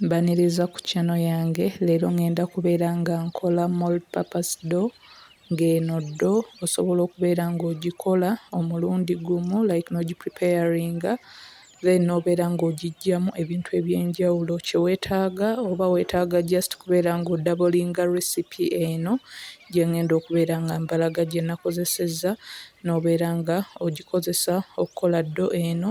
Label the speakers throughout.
Speaker 1: Mbaniriza ku channel yange leero ngenda kubeera nga nkola mall purpose door ng'eno door osobola okubeera ng'ogikola omulundi gumu like n'ogi preparinga then n'obeera ng'ogiggyamu ebintu eby'enjawulo kye weetaaga oba weetaaga just kubeera ng'odabolinga recipe eno gye ng'enda okubeera nga mbalaga gye nakozesezza n'obeera nga ogikozesa okkola door eno.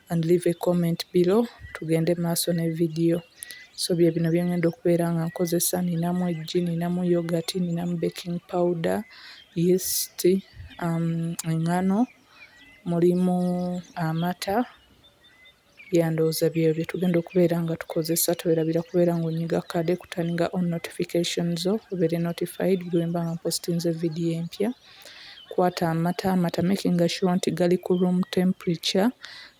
Speaker 1: and leave a comment below tugende maaso ne video so byebino byengenda okubeera nga nkozesa ninamu eggi ninamu yoghurt ninamu baking powder yeast um, engano mulimu amata yandowooza byeyo byetugenda okubeera nga tukozesa tuwerabira kubeera nga onyiga kade kutandika on notification zo obeere notified bwemba nga mpostinze video empya Kwata amata, amata making sure nti gali ku room temperature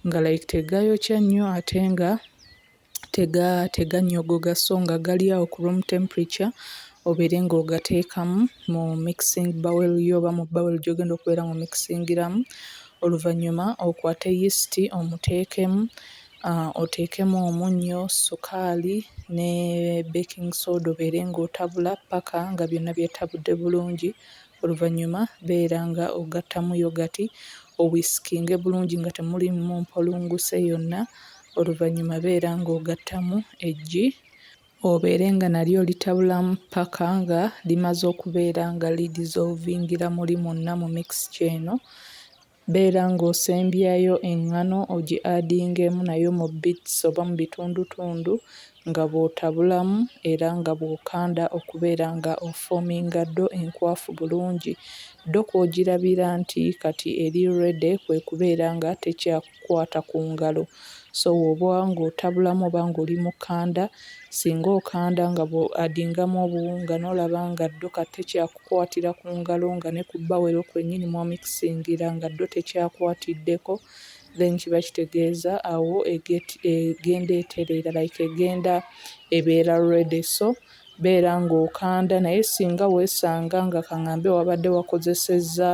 Speaker 1: nga like tegayokya nnyo ate nga tega tegannyogoga so nga gali awo ku room temperature obeere ng'ogateekamu mu mixing bowl yo oba mu bowl gy'ogenda okubeera mu mixingiramu. Oluvannyuma okwate yeast omuteekemu, ah oteekemu omunnyo, ssukaali ne baking soda obeere ng'otabula ppaka nga byonna byetabudde bulungi. Oluvannyuma beera nga ogattamu yogati owisikinge bulungi nga temulimu mpolunguse yonna. Oluvannyuma beera nga ogattamu eggi obeere nga nalyo olitabulamu ppaka nga limaze okubeera nga lidizolvingila muli mwonna mu mixture eno. Beera nga osembyayo engano ogi adingemu nayo mu bits oba mu bitundutundu nga bwotabulamu era nga bwokanda okubeera nga ofominga do enkwafu bulungi. Do kwogirabira nti kati eri ready kwekubeera nga tekyakukwata ku ngalo. So woba nga otabulamu oba nga oli mu kanda Singa okanda nga bw'odingamu obuwunga n'olaba nga ddo ka tekyakukwatira ku ngalo nga ne ku bbawero kwennyini mw'omikisingira nga ddo tekyakwatiddeko then kiba kitegeeza awo egenda etereera like egenda ebeera ready so beera ng'okanda naye singa weesanga nga kang'ambe wabadde wakozesezza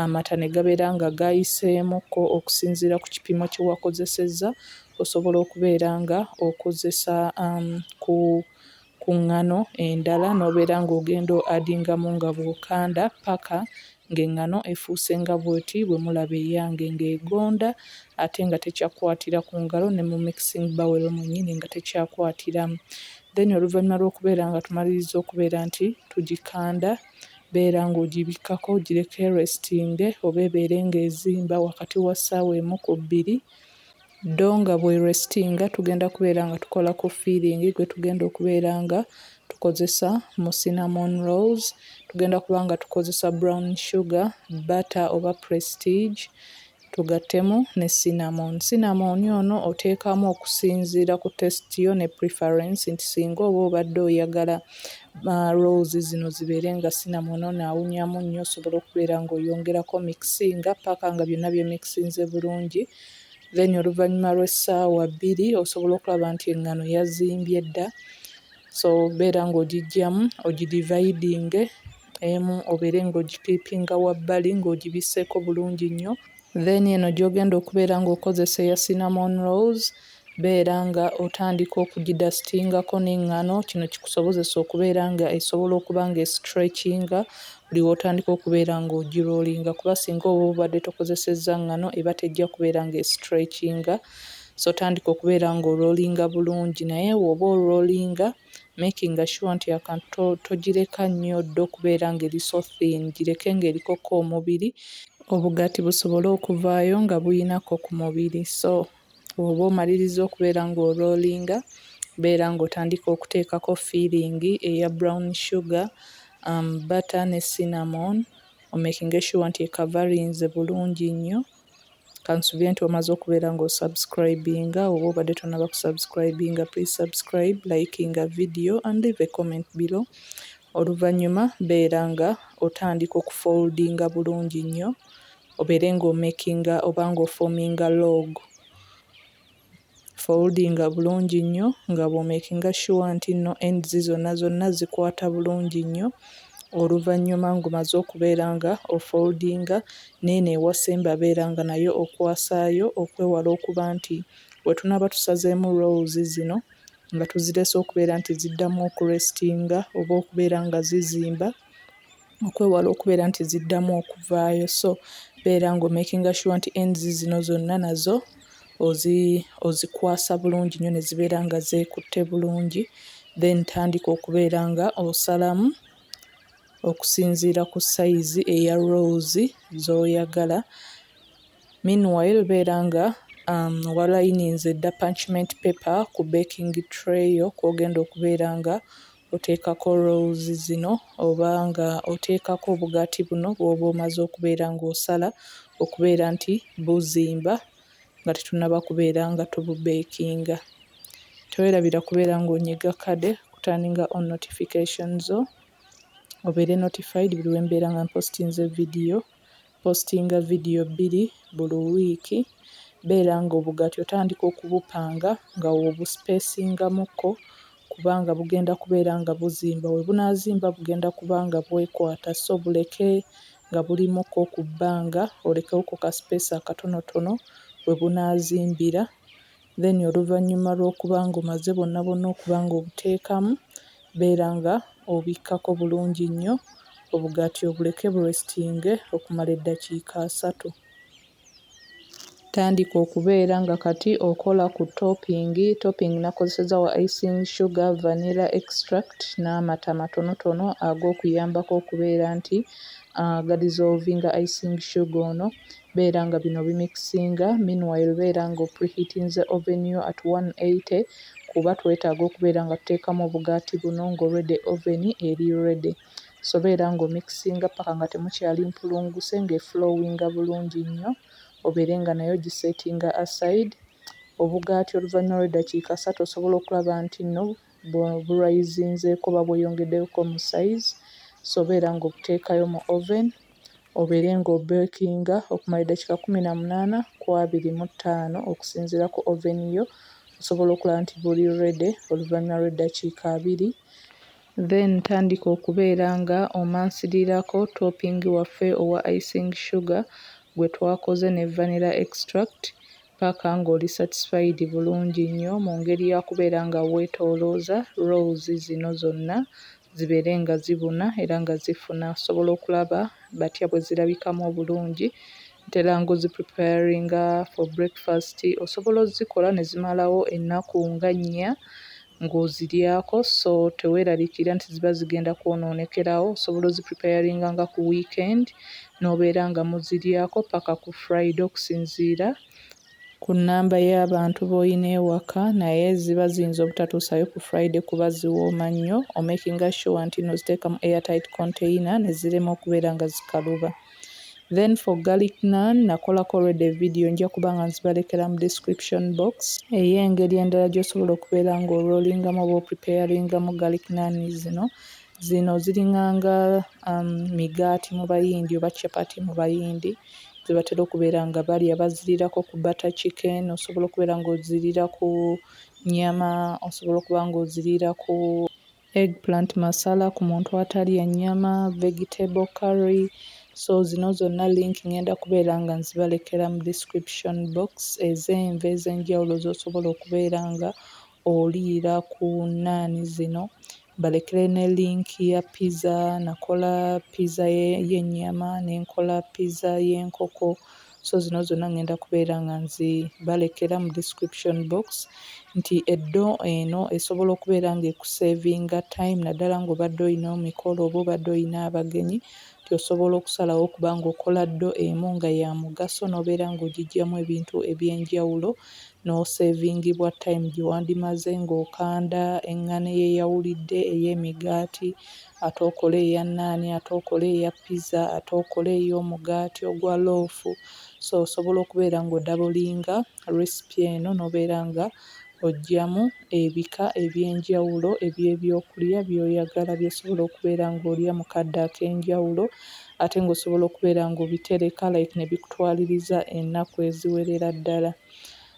Speaker 1: amata ne gabeera nga gayiseemukko okusinziira ku kipimo kye wakozesezza Osobola okubeera nga okozesa ku ku ŋŋano endala n'obeera nga ogenda o adingamu nga bw'okanda ppaka nga eŋŋano efuuse nga bw'oti bwe mulaba eyange nga egonda ate nga tekyakwatira ku ngalo ne mu mixing bowel mwennyini nga tekyakwatiramu. Then oluvannyuma lw'okubeera nga tumalirizza okubeera nti tugikanda beera nga ogibikkako ogireke erestinge oba ebeere nga ezimba wakati wa ssaawa emu ku bbiri. ddo nga bwerestinga tugenda kubeera nga tukola ku feeling gwetugenda okubeera nga tukozesa mu cinnamon rolls tugenda kuba nga tukozesa brown sugar butter oba prestige tugattemu ne cinnamon cinnamon ono oteekamu okusinziira ku test yo ne preference nti singa oba obadde oyagala uh, rolls zino zibeere nga sinamona onaawunyamu nnyo osobola okubeera ng'oyongerako mikisinga paaka nga byonna byemikisinze bulungi then oluvannyuma lw'essaawa bbiri osobola okulaba nti eŋŋano yazimbye dda so beera ng'ogijjamu ogidivaidinge emu obeere ng'ogikiipinga wabbali ng'ogibisseeko bulungi nnyo Then eno gyogenda okubeera nga okozesa eya cinnamon rolls beera nga otandika okugidasitingako n'engano kino kikusobozesa okubeera nga esobola okuba nga esitrekinga buli wotandika okubeera nga ogirolinga kuba singa oba obadde tokozesezza ngano eba tejja kubeera nga esitrekinga so tandika okubeera nga orolinga bulungi naye woba orolinga making sure nti akantu togireka nnyo dda okubeera nga eri so thin gireke nga eriko ko omubiri obugati busobole okuvaayo nga buyina ko ku mubiri so woba omalirizza okubeera nga orolinga beera nga otandika okuteekako feeling eya brown sugar butter ne cinnamon omaking sure nti ekavarinze bulungi nnyo. kansubire nti omaze okubeera nga osubscribinga oba obadde tonaba kusubscribinga please subscribe likinga video and leave a comment below oluvannyuma beera nga otandika okufoldinga bulungi nnyo obeere nga omakinga oba nga ofominga log Foldinga bulungi nnyo nga bw'omekinga sure nti nno ends zonna zonna zikwata bulungi nnyo oluvannyuma ng'omaze okubeera nga ofoldinga n'eno ewasemba beera nga nayo okwasaayo okwewala okuba nti we tunaaba tusazeemu rolls zino nga tuzirese okubeera nti ziddamu okurestinga oba okubeera nga zizimba. okwewala okubeera nti ziddamu okuvaayo so beera nga omakinga sure nti ends zino zonna nazo ozi ozikwasa bulungi nnyo ne zibeera nga zeekutte bulungi then tandika okubeera nga osalamu okusinziira ku sayizi eya rose z'oyagala meanwhile beera nga um, walayininze edda punchment paper ku baking tray yo kw'ogenda okubeera nga oteekako rolls zino oba nga oteekako obugaati buno bwoba omaze okubeera nga osala okubeera nti buzimba nga tetunaba kubeera nga tububekinga. Tewerabira kubeera nga onyiga kade okuturninga on notification zo obeere notified buli wembeera nga mpostinze video Postinga vidiyo bbiri buli wiiki. Beera ng'obugaati otandika okubupanga nga w'obusipeesingamukko kubanga bugenda kubeera nga buzimba. We bunaazimba bugenda kuba nga bwekwata so buleke nga bulimukko ku bbanga olekewo ku kasipeesi akatonotono we bunaazimbira. then oluvanyuma lwokuba nga omaze bwonna bwonna okuba nga obuteekamu beera nga obikkako bulungi nnyo obugati obuleke bu restinge okumala eddakiika asatu. Tandika okubeera nga kati okola ku topping, topping nakozesezza wa icing sugar, vanilla extract n'amata matonotono agokuyambako okubeera nti ga dissolvinga icing sugar ono beera nga bino obimikisinga, meanwhile beera nga opreheatinze oven yo at one hundred and eighty kuba twetaaga okubeera nga tuteekamu obugaati buno nga already oven eri ready so beera nga omikisinga paka nga temukyali mpulunguse nga eflowinga bulungi nnyo obeere nga nayo ogisettinga aside, obugaati oluvannyuma lw'eddakiika ssatu osobola okulaba nti nno bweburayizinzeeko oba bweyongedeko mu size so beera nga obuteekayo mu oven obeere nga obekinga okumala eddakiika kkumi na munaana ku abiri mu ttaano okusinziira ku oven yo osobola okulaba nti buli ready oluvanyuma lw'eddakiika abiri. Then tandika okubeera nga omansirirako topping waffe owa icing sugar gwetwakoze ne vanilla extract paka nga oli satisfied bulungi nnyo mungeri yakubeera nga wetolooza rolls zino zonna zibeere nga zibuna era nga zifuna osobola okulaba batya bwezirabikamu obulungi ntera nga ozi preparinga for breakfast osobola ozikola nezimalawo ennaku nga nnya ng'oziryako so teweeraliikirira nti ziba zigenda kwonoonekerawo, osobola ozipreparinga nga ku weekend n'obeera nga muziryako paka ku Friday okusinziira ku nnamba y'abantu b'olina ewaka naye ziba ziyinza obutatuusaayo ku Friday kuba ziwooma nnyo, omakinga sure nti nno oziteeka mu airtight container ne zirema okubeera nga zikaluba. then for garlic naan nakolako already evidiyo nja kuba nga nzibalekera mu description box ey'engeri endala gy'osobola okubeera nga orolingamu oba opreparingamu garlic naan zino zino ziringanga um, migaati mu bayindi oba chapati mu bayindi zebatera okubeera nga balya bazirirako ku butter chicken osobola okubeera nga ozirira ku nyama osobola okuba nga ozirira ku Eggplant masala ku muntu atalya nnyama, vegetable curry, so zino zonna link ngenda kubeera nga nzibalekera mu description box ez'enva ez'enjawulo z'osobola okubeera nga oliira ku nnaani zino, mbalekere ne link ya pizza, nakola pizza y'ennyama ne nkola pizza y'enkoko. so zino zonna ngenda kubeera nga nzibalekera mu description box nti eddo eno esobola okubeera nga ekusevinga time naddala ng'obadde olina omikolo oba obadde olina abagenyi nti osobola okusalawo okuba ng'okola ddo emu nga ya mugaso n'obeera ng'ogijjamu ebintu eby'enjawulo n'oseevingibwa time gye wandimaze ng'okanda eŋŋano eyeyawulidde ey'emigaati ate okole eya nnaani, ate okole eya pizza, ate okole ey'omugaati ogwa loofu. So osobola okubeera ng'odabolinga recipe eno n'obeera nga oggyamu ebika eby'enjawulo eby'ebyokulya by'oyagala by'osobola okubeera ng'olya mu kadde ak'enjawulo ate ng'osobola okubeera ng'obitereka like ne bikutwaliriza ennaku eziwerera ddala.